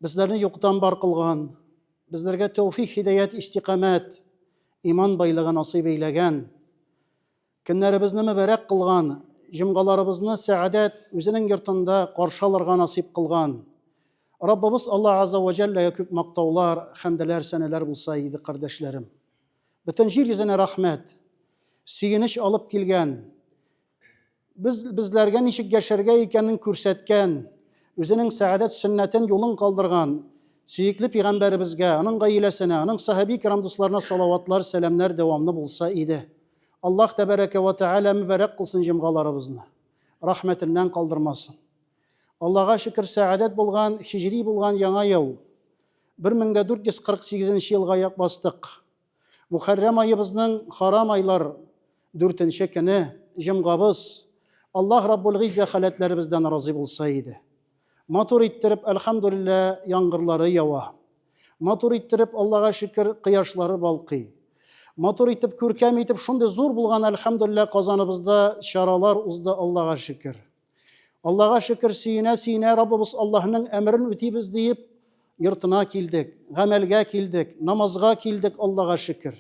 Безләрне юктан бар кылган, безләргә тәүфик, хидәят, истикамәт, иман байлыгын насыйп әйләгән, көннәребезне мөбәрәк кылган, җомгаларыбызны сәадәт үзенең йортында каршы алырга насыйп кылган. Раббыбыз Алла Азза ва Җәлләгә күп мактаулар, хәмдәләр, сәнәләр булса иде, кардәшләрем. Бөтен җир йөзенә рәхмәт, сөенеч алып килгән, Без безләргә ничек яшәргә икәнен күрсәткән, үзенең сәгадәт сөннәтен юлын калдырган сөекле пигамбәребезгә, аның гаиләсенә, аның сахаби кирам дусларына салаватлар, сәламнәр дәвамлы булса иде. Аллаһ тәбәрәкә вә тәгалә мөбарәк кылсын җомгаларыбызны. Рәхмәтеннән калдырмасын. Аллага шөкер, сәгадәт булган, хиҗри булган яңа ел. 1448 елга як бастык. Мухәррәм аебызның харам айлар дүртенче көне җомгабыз Аллаһ Раббул Гыйззә халәтләребездән разый булса иде. Матур иттереп, әлхәмдүлиллә, яңгырлары ява. Матур иттереп, Аллага шөкер, кояшлары балкый. Матур итеп, күркәм итеп, шундый зур булган, әлхәмдүлиллә, Казаныбызда чаралар узды, Аллага шөкер. Аллага шөкер, сөенә-сөенә Раббыбыз Аллаһның әмерен үтибез диеп, йортына килдек, гамәлгә килдек, намазга килдек, Аллага шөкер.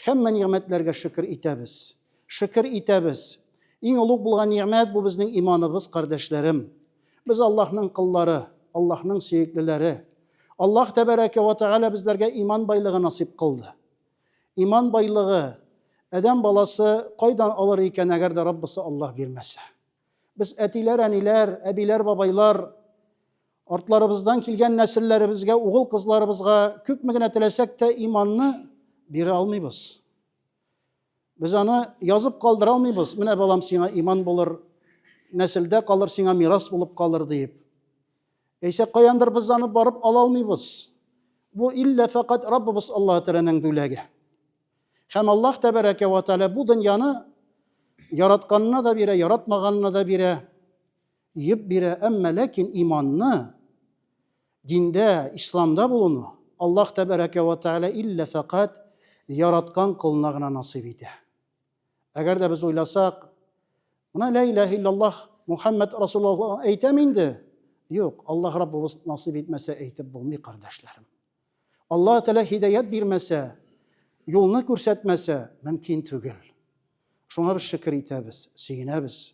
Һәммә нигъмәтләргә шөкер итәбез. Шөкер итәбез. Иң олуг булган нигъмәт бу безнең иманыбыз, кардәшләрем. Без Аллаһның кыллары, Аллаһның сөеклеләре. Аллаһ тәбәрәкә ва тәгалә безләргә иман байлыгы насыйп кылды. Иман байлыгы адәм баласы кайдан алыр икән, әгәр дә Раббысы Аллаһ бирмәсә? Без әтиләр, әниләр, әбиләр, бабайлар артларыбыздан килгән нәселләребезгә, угыл кызларыбызга күпме генә теләсәк тә иманны бирә алмыйбыз. Без аны язып калдыра алмыйбыз. Менә балам сиңа иман булыр, нәселдә калыр, сиңа мирас булып калыр диеп. Әйсә каяндыр без аны барып ала алмыйбыз. Бу иллә фәкать Раббыбыз Аллаһ Тәгаләнең бүләге. Һәм Аллаһ Тәбәрәкә ва Тәгалә бу дөньяны яратканына да бирә, яратмаганына да бирә, йөп бирә, әмма ләкин иманны диндә, исламда булуны Аллаһ Тәбәрәкә ва Тәгалә иллә фәкать яраткан колына гына насыйп итә. Әгәр дә без уйласак, менә лә илаһ иллаллаһ Мухаммад Расулуллаһ әйтәм инде. Юк, Аллаһ Раббыбыз насыйп итмәсә әйтеп булмый, кардәшләрем. Аллаһ Тәгалә һидаят бирмәсә, юлны күрсәтмәсә, мөмкин түгел. Шуңа без шөкер итәбез, сөенәбез.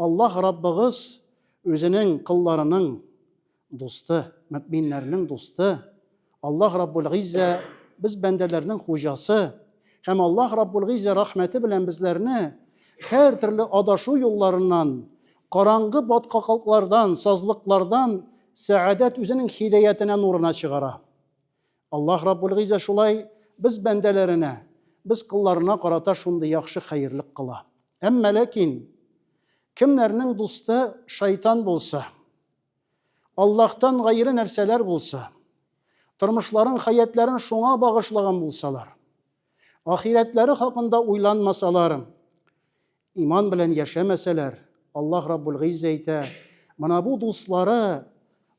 Аллаһ Раббыгыз Үзенең колларының дусты, мөэминнәрнең дусты. Аллаһ Раббул-Гиззә без бәндәләрнең хуҗасы. Һәм Аллаһ Раббул-Гиззә рәхмәте белән безләрне һәр төрле адашу юлларыннан, караңгы баткаклыклардан, сазлыклардан сәгадәт Үзенең һидәятенә, нурына чыгара. Аллаһ Раббул Гыйззә шулай без бәндәләренә, без колларына карата шундый яхшы хәерлек кыла. Әмма ләкин кемнәрнең дусты шайтан булса, Аллаһтан гайре нәрсәләр булса, тормышларын, хәятләрен шуңа багышлаган булсалар, ахирәтләре хакында уйланмасалар, Иман белән яшәмәсәләр, Аллаһ Раббул Гыйззә әйтә, менә бу дуслары,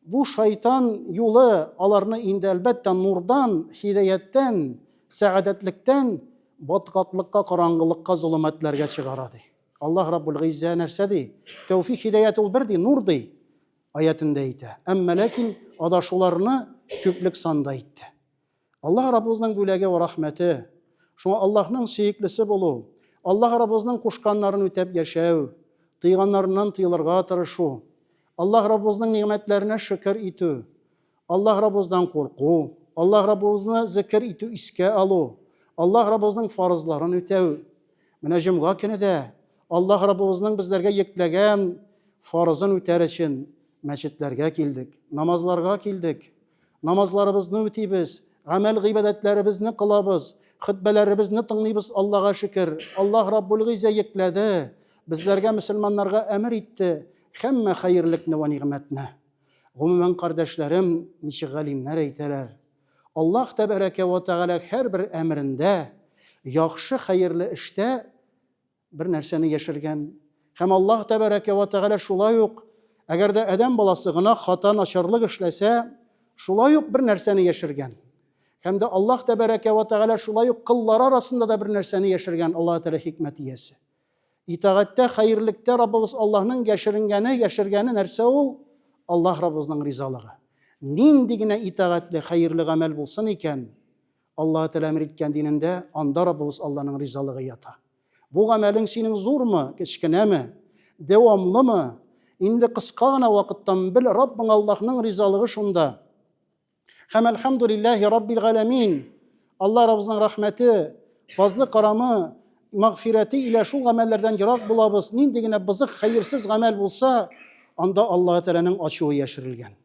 бу шайтан юлы аларны инде әлбәттә нурдан, хидаяттән, сәгадәтлектән баткаклыкка, караңгылыкка, золымәтләргә чыгара ди. Аллаһ Раббул Гыйззә нәрсә ди? Тәүфик хидәят ул бер ди, нур ди аятендә әйтә. Әмма ләкин адашуларны күплек санда әйтте. Аллаһ Раббыбызның бүләге ва рәхмәте, шуңа Аллаһның сөеклесе булу, Аллаһ Раббыбызның кушканнарын үтәп яшәү, тыйганнарыннан тыелырга тырышу, Аллаһ Раббыбызның нигъмәтләренә шөкер итү, Аллаһ Раббыбыздан курку, Аллаһ Раббыбызны зикер итү, искә алу, Аллаһ Раббыбызның фарызларын үтәү. Менә җомга көне дә Аллаһ Раббыбызның безләргә йөкләгән фарызын үтәр өчен мәчетләргә килдек, намазларга килдек. Намазларыбызны үтибез, гамәл гыйбадәтләребезне кылабыз, хөтбәләребезне тыңлыйбыз Аллаһга шөкер. Аллаһ Раббул Гыйзә йөкләде, безләргә мөселманнарга әмер итте һәммә хәерлекне вә нигъмәтне. Гомумән, кардәшләрем, ничек галимнәр әйтәләр, Аллаһ тәбәрәкә вә тәгалә һәрбер әмерендә, яхшы хәерле эштә Бер нәрсәне яшергән. Һәм Аллаһ тәбәрәкә ва тәгалә шулай ук, әгәр дә адәм баласы гына хата начарлык эшләсә, шулай ук бер нәрсәне яшергән. Һәм дә Аллаһ тәбәрәкә ва тәгалә шулай ук кыллары арасында да бер нәрсәне яшергән. Аллаһ тәгалә хикмәт иясе. Итагатьтә, хәерлектә Раббыбыз Аллаһның яшеренгәне, яшергәне нәрсә ул? Аллаһ Раббыбызның ризалыгы. Нинди генә итагатьле, хәерле гамәл булсын икән, Аллаһы Тәгалә әмер иткән динендә, анда Раббыбыз Алланың ризалыгы ята. Бу гамәлең синең зурмы, кечкенәме, дәвамлымы, инде кыска гына вакыттан бел, Раббың Аллаһның ризалыгы шунда. Һәм әлхәмдүлилләһи Раббил галәмин. Алла Раббызның рәхмәте, фазлы карамы, мәгъфирәте илә шул гамәлләрдән ерак булабыз. Нинди генә бызык, хәерсез гамәл булса, анда Аллаһы Тәгаләнең ачуы яшерелгән.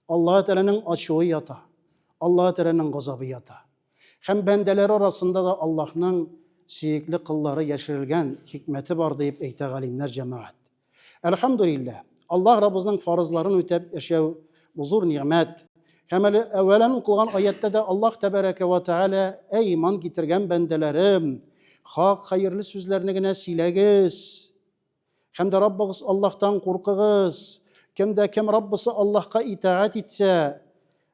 Аллаһы Тәгаләнең ачуы ята, Аллаһы Тәгаләнең газабы ята. Һәм бәндәләре арасында да Аллаһның сөекле кыллары яшерелгән хикмәте бар, диеп әйтә галимнәр җәмәгать. Әлхәмдүлилләһ, Аллаһ Раббыбызның фарызларын үтәп яшәү бу зур нигъмәт. Һәм әле әүвәлән укылган аятьтә дә Аллаһ Тәбәрәкә вә Тәгалә, Әй иман китергән бәндәләрем, хак, хәерле сүзләрне генә сөйләгез! Һәм дә Раббыгыз Аллаһтан куркыгыз. Кем дә кем Раббысы Аллаһка итагать итсә,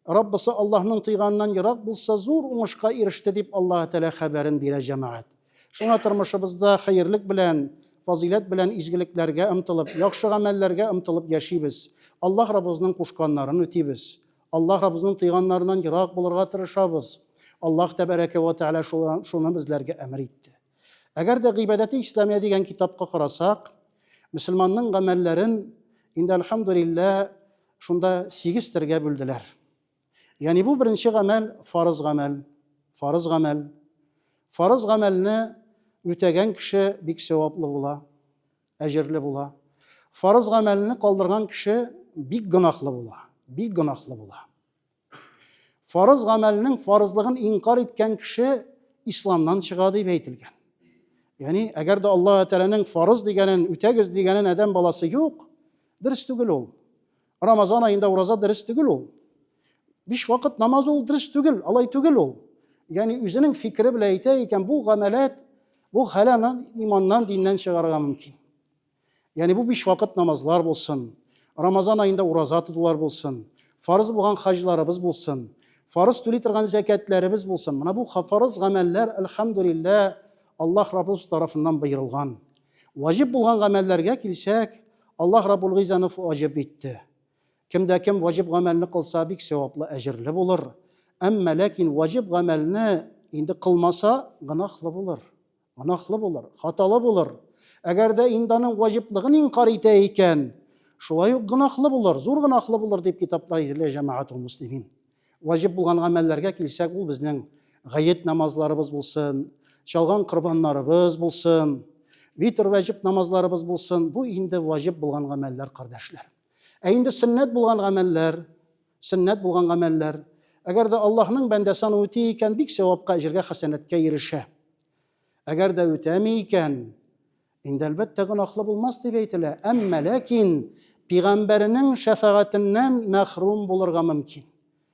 Раббысы Аллаһның тыйганнан ерак булса, зур уңышка иреште, дип Аллаһ Тәгалә хәбәрен бирә җәмәгать. Шуңа тормышыбызда хәерлек белән, фазыйләт белән изгелекләргә ымтылып, яхшы гамәлләргә ымтылып яшибез. Аллаһ Раббызның кушканнарын үтибез. Аллаһ Раббызның тыйганнарыннан ерак булырга тырышабыз. Аллаһ Тәбәрәкә вә Тәгалә шуны безләргә әмер итте. Әгәр дә гыйбадәте исламия дигән китапка карасак, мөселманның гамәлләрен инде альхамдулилла шунда сигез төргә бүлделәр. Ягъни бу беренче гамәл фарыз гамәл, фарыз гамәл. Фарыз гамәлне үтәгән кеше бик сәваплы була, әҗерле була. Фарыз гамәлне калдырган кеше бик гөнаһлы була, бик гөнаһлы була. Фарыз гамәлнең фарызлыгын инкар иткән кеше исламнан чыга дип әйтелгән. Ягъни, әгәр дә Аллаһ Тәгаләнең фарыз дигәнен үтәгез дигәнен адәм баласы юк, дөрес түгел ул. Рамазан аенда ураза дөрес түгел ул. Биш вакыт намаз ул дөрес түгел, алай түгел ул. Ягъни, үзенең фикере белән әйтә икән, бу гамәләт, бу хәлән иманнан, диннән чыгарга мөмкин. Яни бу биш вакыт намазлар булсын, Рамазан аенда ураза тотулар булсын, фарыз булган хаҗларыбыз булсын, фарыз түли торган зәкәтләребез булсын. Менә бу фарыз гамәлләр, альхамдулиллә, Аллаһ Раббыбыз тарафыннан боерылган. Ваҗиб булган гамәлләргә килсәк, Аллаһ Раббул Гыйзаны ваҗиб итте. Кемдә кем ваҗиб гамәлне кылса, бик сәваплы, әҗерле булыр. Әмма ләкин ваҗиб гамәлне инде кылмаса, гынахлы булыр. Гөнаһлы булыр, хаталы булыр. Әгәр дә инде аның ваҗиплыгын инкар итә икән, шулай ук гөнаһлы булыр, зур гөнаһлы булыр дип китапта әйтелә җәмәгатул муслимин. Ваҗиб булган гамәлләргә килсәк, ул безнең гаять намазларыбыз булсын, чалган корбаннарыбыз булсын, витр вәҗиб намазларыбыз булсын. Бу инде ваҗиб булган гамәлләр, кардәшләр. Ә инде сөннәт булган гамәлләр, сөннәт булган гамәлләр, әгәр дә Аллаһның бәндәсе аны үти икән, бик сәвапка, әҗергә, хәсәнәткә ирешә. Әгәр дә үтәми икән, инде әлбәттә гөнаһлы булмас дип әйтелә. Әмма ләкин пигамбәренең шәфәгатеннән мәхрүм булырга мөмкин.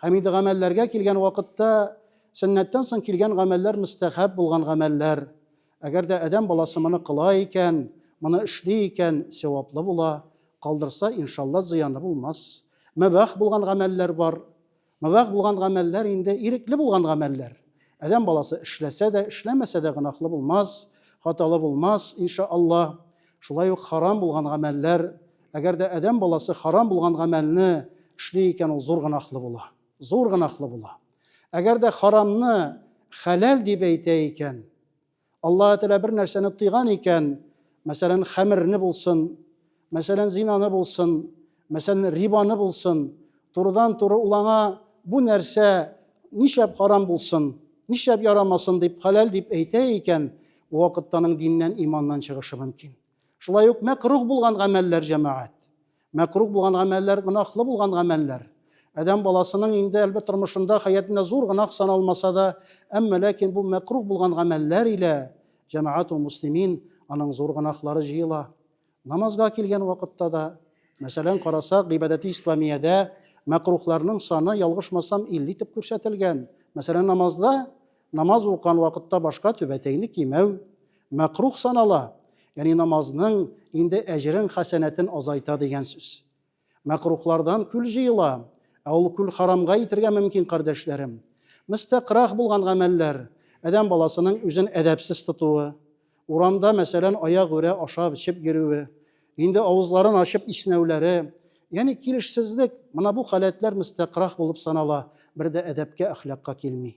Һәм инде гамәлләргә килгән вакытта сөннәттән соң килгән гамәлләр мөстәхәб булган гамәлләр. Әгәр дә адәм баласы моны кыла икән, моны эшли икән, сәваплы була, калдырса, иншалла, зыяны булмас. Мөбах булган гамәлләр бар. Мөбах булган гамәлләр инде ирекле булган гамәлләр. Адәм баласы эшләсә дә, эшләмәсә дә гөнаһлы булмас, хаталы булмас, иншалла. Шулай ук харам булган гамәлләр, әгәр дә адәм баласы харам булган гамәлне эшли икән, ул зур гынахлы була. Зур гынахлы була. Әгәр дә харамны хәләл дип әйтә икән, Аллаһ Тәгалә бер нәрсәне тыйган икән, мәсәлән, хәмерне булсын, мәсәлән, зинаны булсын, Мәсәлән, рибаны булсын, турыдан-туры ул аңа бу нәрсә нишләп харам булсын, нишләп ярамасын дип хәләл дип әйтә икән, бу вакытта аның диннән, иманнан чыгышы мөмкин. Шулай ук мәкрух булган гамәлләр җәмәгать. Мәкрух булган гамәлләр, гөнаһлы булган гамәлләр. Адәм баласының инде әлбәт тормышында хәятында зур гынах саналмаса да, әмма ләкин бу мәкрух булган гамәлләр илә җәмәгать ул муслимин аның зур гынахлары җыела. Намазга килгән вакытта да, мәсәлән, карасак, гыйбадәти исламиядә мәкрухларның саны, ялгышмасам, 50 итеп күрсәтелгән. Мәсәлән, намазда, намаз укыган вакытта башка түбәтәйне кимәү мәкрух санала, яни намазның инде әҗерен, хәсәнәтен азайта дигән сүз. Мәкрухлардан күл җыела, ә ул күл харамга итергә мөмкин, кардәшләрем. Мөстәкърах булган гамәлләр, адәм баласының үзен әдәпсез тотуы, урамда, мәсәлән, аягүрә ашап-эчеп йөрүе, инде авызларын ачып иснәүләре, ягъни килешсезлек, менә бу халәтләр мөстәкърах булып санала, бер дә әдәпкә, әхлакка килми.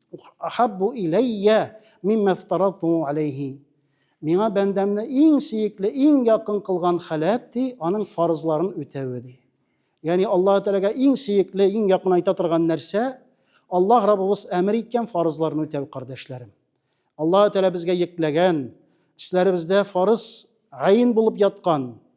Хаббу иләйя мимма фтарату алейхи. Миңа бәндәмне иң сөекле, иң якын кылган халәт ди, аның фарызларын үтәве ди. Ягъни Аллаһ Тәгаләгә иң сөекле, иң якын айта торган нәрсә Аллаһ Раббыбыз әмер иткән фарызларны үтәү, кардәшләрем. Аллаһ Тәгалә безгә йөкләгән, эшләребездә фарыз гаин булып яткан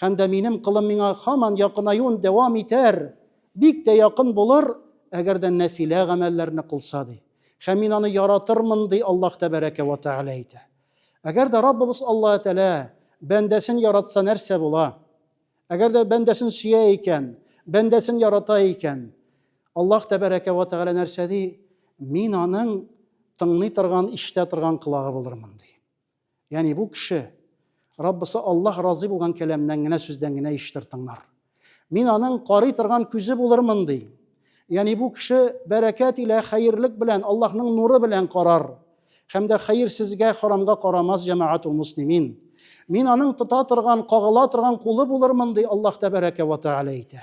Һәм дә минем колым миңа һаман якынаюын дәвам итәр, бик тә якын булыр, әгәр дә нәфилә гамәлләрне кылса, ди. Һәм мин аны яратырмын, ди Аллаһ тәбәрәкә вә тәгалә әйтә. Әгәр дә Раббыбыз Аллаһ Тәгалә бәндәсен яратса, нәрсә була? Әгәр дә бәндәсен сөя икән, бәндәсен ярата икән, Аллаһ тәбәрәкә вә тәгалә нәрсә ди? Мин аның тыңлый торган, ишетә торган колагы булырмын, ди. Яни бу кеше Раббысы Аллаһ разый булган кәламнән генә сүздән генә иштер тыңнар. Мин аның карый торган күзе булырмын ди. Яни бу кеше бәрәкәт илә хәерлек белән Аллаһның нуры белән карар һәм дә хәерсезгә харамга карамас җәмәгать ул муслимин. Мин аның тота торган, кагыла торган кулы булырмын ди Аллаһ тәбәрәкә ва тәгалә әйтә.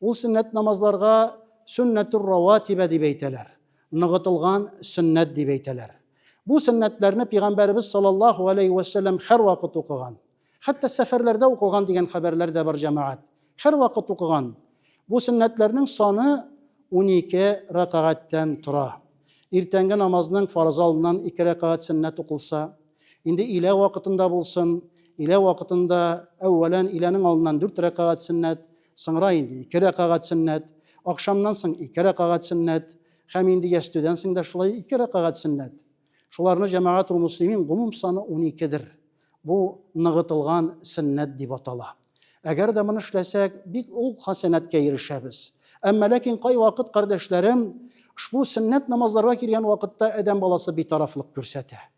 Ул сөннәт намазларга сөннәтүр раватибә дип әйтәләр. Ныгытылган сөннәт дип әйтәләр. Бу сөннәтләрне пигамбәребез саллаллаһу алейхи ва саллям һәр вакыт укыган. Хәтта сәфәрләрдә укылган дигән хәбәрләр дә бар җәмәгать. Һәр вакыт укыган. Бу сөннәтләрнең саны 12 рәкагатьтән тора. Иртәнге намазның фарыз алдыннан 2 рәкагать сөннәт укылса, Инде илә вакытында булсын, илә вакытында әүвәлән иләнең алдыннан дүрт рәкәгать сөннәт, соңра инде ике рәкәгать сөннәт, акшамнан соң ике рәкәгать сөннәт һәм инде ястүдән соң да шулай ике рәкәгать сөннәт. Шуларны җәмәгат ул муслимин гомум саны 12-дер. Бу ныгытылган сөннәт дип атала. Әгәр дә моны эшләсәк, бик ул хасанәткә ирешәбез. Әмма ләкин кай вакыт кардәшләрем ошбу сөннәт намазларга килгән вакытта адәм баласы битарафлык күрсәтә.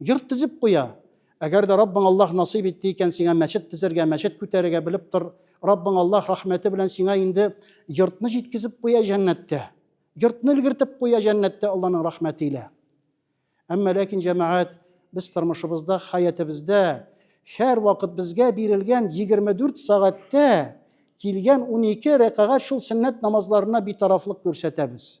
Йорт төзеп куя. Әгәр дә Раббың Аллаһ насыйп итте икән сиңа мәчет төзергә, мәчет күтәрергә, белеп тор, Раббың Аллаһ рәхмәте белән сиңа инде йортны җиткезеп куя җәннәттә. Йортны өлгертеп куя җәннәттә Аллаһның рәхмәте илә. Әмма ләкин җәмәгать, без тормышыбызда, хәятыбызда һәр вакыт безгә бирелгән 24 сәгатьтә килгән 12 рәкагать шул сөннәт намазларына битарафлык күрсәтәбез.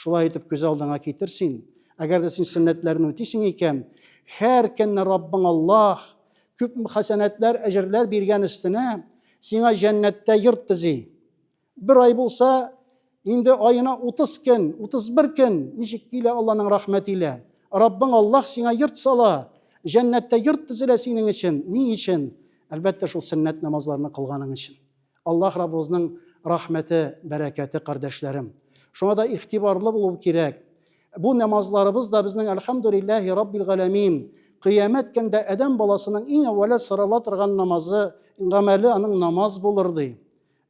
Шулай итеп күз алдыңа китер син, әгәр дә син сөннәтләрне үтисең икән, һәр көнне Раббың Аллаһ күп хәсәнәтләр, әҗерләр биргән өстенә сиңа җәннәттә йорт төзи. Бер ай булса, инде айына 30 көн, 31 көн ничек килә Алланың рәхмәте илә. Раббың Аллаһ сиңа йорт сала, җәннәттә йорт төзелә синең өчен. Ни өчен? Әлбәттә, шул сөннәт намазларны кылганың өчен. Аллаһ Раббыбызның рәхмәте, бәрәкәте, кардәшләрем. Шуңа да игътибарлы булу кирәк. Бу намазларыбыз да безнең Әлхәмдүлилләһи Раббил галәмин. Кыямәт көндә адәм баласының иң әүвәле сорала торган намазы, гамәле аның намаз булыр ди.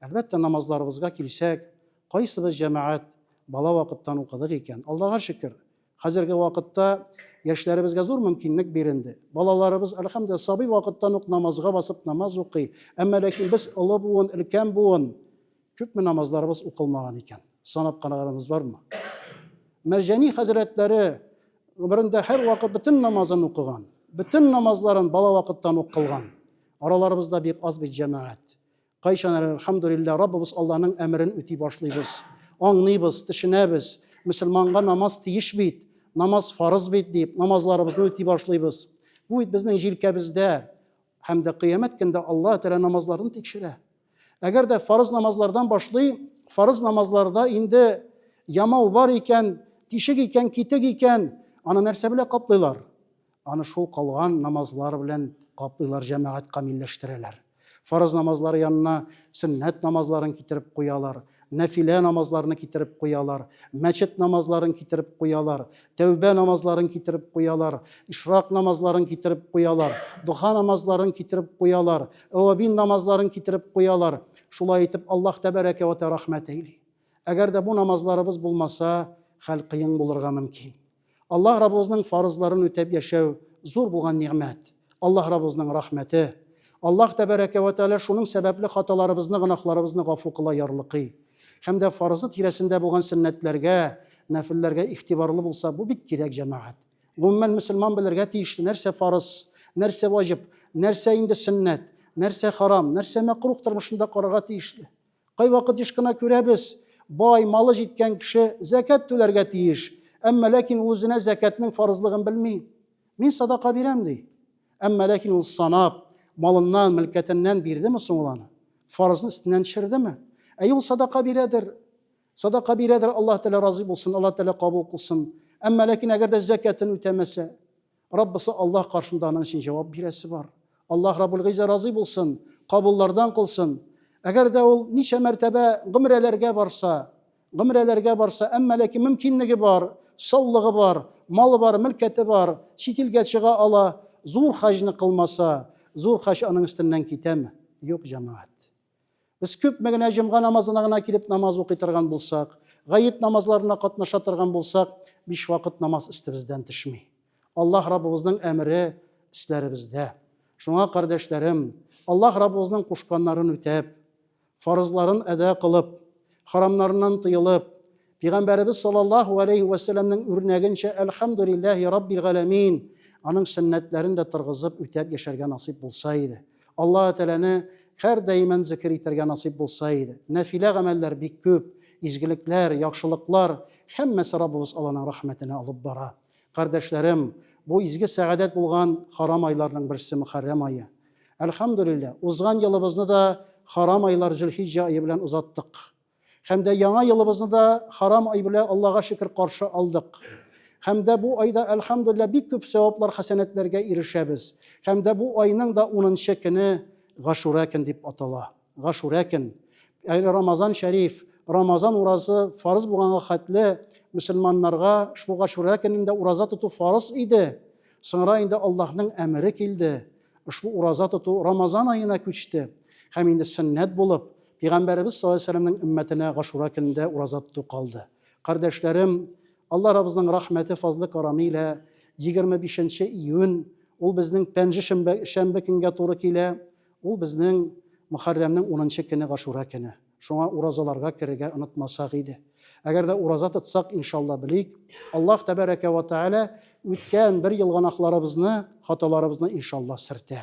Әлбәттә, намазларыбызга килсәк, кайсыбыз җәмәгать бала вакыттан укыдык икән? Аллага шөкер, Хәзерге вакытта яшьләребезгә зур мөмкинлек биренде. Балаларыбыз, әлхәмдә, сабый вакыттан ук намазга басып намаз укый. Әмма ләкин без олы буын, өлкән буын күпме намазларыбыз укылмаган икән? Санап караганыбыз бармы? Мәрҗани хәзрәтләре гомерендә һәр вакыт бөтен намазын укыган, бөтен намазларын бала вакыттан ук кылган. Араларыбызда бик аз бит җәмәгать. Кайчан әле, әлхәмдулилла, Раббыбыз Алланың әмерен үти башлыйбыз, аңлыйбыз, төшенәбез, мөселманга намаз тиеш бит, намаз фарыз бит дип, намазларыбызны үти башлыйбыз. Бу бит безнең җилкәбездә һәм дә кыямәт көндә Алла Тәгалә намазларын тикшерә. Әгәр дә фарыз намазлардан башлый, фарыз намазларда инде ямау бар икән, тишек икән, китек икән, аны нәрсә белән каплыйлар? Аны шул калган намазлар белән каплыйлар, җәмәгать камилләштерәләр. Фарыз намазлары янына сөннәт намазларын китереп куялар, нәфилә намазларны китереп куялар, мәчет намазларын китереп куялар, тәүбә намазларын китереп куялар, ишрак намазларын китереп куялар, духа намазларын китереп куялар, әвабин намазларын китереп куялар. Шулай итеп, Аллаһ тәбәрәкә вә рәхмәт әйли. Әгәр дә бу намазларыбыз булмаса, хәл кыен булырга мөмкин. Аллаһ Раббыбызның фарызларын үтәп яшәү зур булган нигъмәт. Аллаһ Раббыбызның рәхмәте. Аллаһ Тәбәрәкә вә Тәгалә шуның сәбәпле хаталарыбызны, гөнаһларыбызны гафу кыла ярлыкый. Һәм дә фарызы тирәсендә булган сөннәтләргә, нәфелләргә игътибарлы булса, бу бик кирәк, җәмәгать. Гомумән, мөселман белергә тиешле, нәрсә фарыз, нәрсә ваҗиб, нәрсә инде сөннәт, нәрсә харам, нәрсә мәкруһ тормышында карарга тиешле. Кайвакыт еш кына күрәбез, бай, малы җиткән кеше зәкәт түләргә тиеш, әмма ләкин ул үзенә зәкәтнең фарызлыгын белми. Мин садака бирәм, ди. Әмма ләкин ул санап, малыннан, мөлкәтеннән бирдеме соң ул аны? Фарызны өстеннән төшердеме? Әйе, ул садака бирәдер. Садака бирәдер, Аллаһ Тәгалә разый булсын, Аллаһ Тәгалә кабул кылсын. Әмма ләкин әгәр дә зәкәтен үтәмәсә, Раббысы Аллаһ каршында аның өчен җавап бирәсе бар. Аллаһ Раббул Гыйза разый булсын, кабуллардан кылсын. Әгәр дә ул ничә мәртәбә гомрәләргә барса, гомрәләргә барса, әмма ләкин мөмкинлеге бар, саулыгы бар, малы бар, мөлкәте бар, чит илгә чыга ала, зур хаҗны кылмаса, зур хаҗ аның өстеннән китәме? Юк, җәмәгать. Без күпме генә җомга намазына гына килеп намаз укый торган булсак, гаеп намазларына катнаша торган булсак, биш вакыт намаз өстебездән төшми. Аллаһ Раббыбызның әмере өсләребездә. Шуңа, кардәшләрем, Аллаһ Раббыбызның кушканнарын үтәп, фарызларын әдә кылып, харамнарыннан тыелып, Пәйгамбәребез саллаллаһу алейхи ва сәлламнең үрнәгенчә әлхәмдүлилләһи раббил галәмин, аның сөннәтләрен дә торгызып үтәп яшәргә насыйп булса иде. Аллаһ Тәгаләне һәр даиман зикр итәргә насыйп булса иде. Нәфилә гамәлләр бик күп, изгелекләр, яхшылыклар, һәммәсе Раббыбыз Алланың рәхмәтенә алып бара. Кардәшләрем, бу изге сәгадәт булган харам айларның берсе Мөхәррәм ае. Әлхәмдүлилләһ, узган елыбызны да харам айлар Зөлхиҗҗә ае белән озаттык. Һәм дә яңа елыбызны да харам ай белән Аллага шөкер каршы алдык. Һәм дә бу айда әлхәмдулилла бик күп сәваплар, хәсәнәтләргә ирешәбез. Һәм дә бу айның да 10 көне Гашура көн дип атала. Гашура көн. Әле Рамазан шәриф, Рамазан уразы фарыз булганга хәтле мөселманнарга шул Гашура көнендә ураза тоту фарыз иде. Соңра инде Аллаһның әмере килде. Ошбу ураза тоту Рамазан аена күчте. Һәм инде сөннәт булып, Пәйгамбәребез саллаллаһу алейһи вәсәлләмнең өммәтенә Гашура көнендә ураза тоту калды. Кардәшләрем, Алла Раббызның рәхмәте, фазлы карамы илә 25 нче июнь, ул безнең пәнҗе шәмбе, шәмбе көнгә туры килә, ул безнең Мөхәррәмнең 10 нчы көне Гашура көне. Шуңа уразаларга керергә онытмасак иде. Әгәр дә ураза тотсак, иншалла белик, Аллаһ тәбәрәкә вә тәгалә үткән бер ел гөнаһларыбызны, хаталарыбызны иншалла сөртә.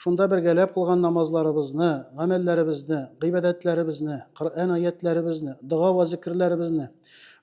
Шунда бергәләп кылган намазларыбызны, гамәлләребезне, гыйбадәтләребезне, Коръән аятләребезне, дога ва зикрләребезне,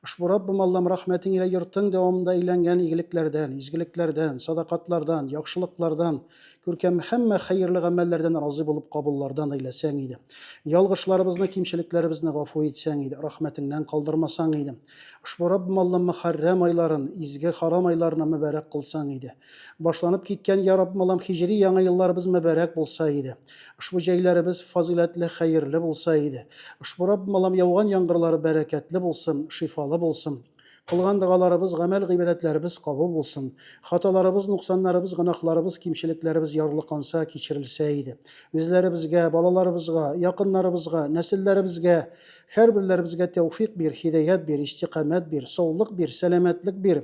ошбу Раббым Аллам рәхмәтең илә йортың дәвамында иләнгән игелекләрдән, изгелекләрдән, садакатлардан, яхшылыклардан, күркәм һәммә хәерле гамәлләрдән разый булып кабуллардан әйләсәң иде. Ялгышларыбызны, кимчелекләребезне гафу итсәң иде, рәхмәтеңнән калдырмасаң иде. Ошбу Раббым Аллам Мөхәррәм айларын, изге харам айларны мөбарәк кылсаң иде. Башланып киткән Я Раббалам хиҗри яңа елларыбыз мөбарәк булса иде. Ошбу җәйләребез фазыйләтле, хәерле булса иде. Ошбу Раббалам яуган яңгырлары бәрәкәтле булсын, шифалы булсын. Кылган догаларыбыз, гамәл-гыйбадәтләребез кабул булсын. Хаталарыбыз, нуксаннарыбыз, гөнаһларыбыз, кимчелекләребез ярлыканса, кичерелсә иде. Үзләребезгә, балаларыбызга, якыннарыбызга, нәселләребезгә, һәрберләребезгә тәүфик бир, хидәят бир, истикамәт бир, саулык бир, сәламәтлек бир.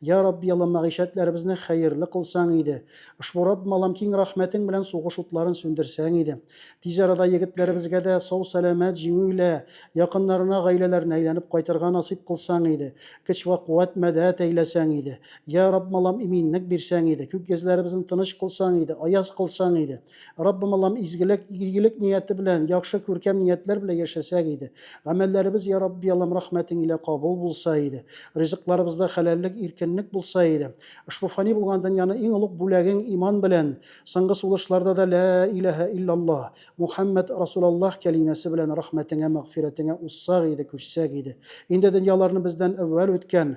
Я Рабби, Аллам, мәгыйшәтләребезне хәерле кылсаң иде. Ошбу Раббым, Аллам, киң рәхмәтең белән сугыш утларын сүндерсәң иде. Тиз арада егетләребезгә дә сау-сәламәт, җиңүле, якыннарына, гаиләләренә әйләнеп кайтырга насыйп кылсаң иде. Көч вә куәт, мәдәт әйләсәң иде. Я Раббым, Аллам, иминлек бирсәң иде. Күк йөзләребезне тыныч кылсаң иде, аяз кылсаң иде. Раббым Аллам изгелек, игелек нияте белән, яхшы күркәм ниятләр белән яшәсәк иде. Гамәлләребез, я Рабби Аллам, рәхмәтең илә кабул булса иде. Ризыкларыбызда хәләллек, иркенлек булса иде. Ошбу фани булган дөньяны иң олуг бүләгең иман белән, соңгы сулышларда да лә иләһә иллаллаһ, Мухаммад Расулаллаһ кәлимәсе белән рәхмәтеңә, мәгъфирәтеңә уссак иде, күчсәк иде. Инде дөньяларны бездән әүвәл үткән,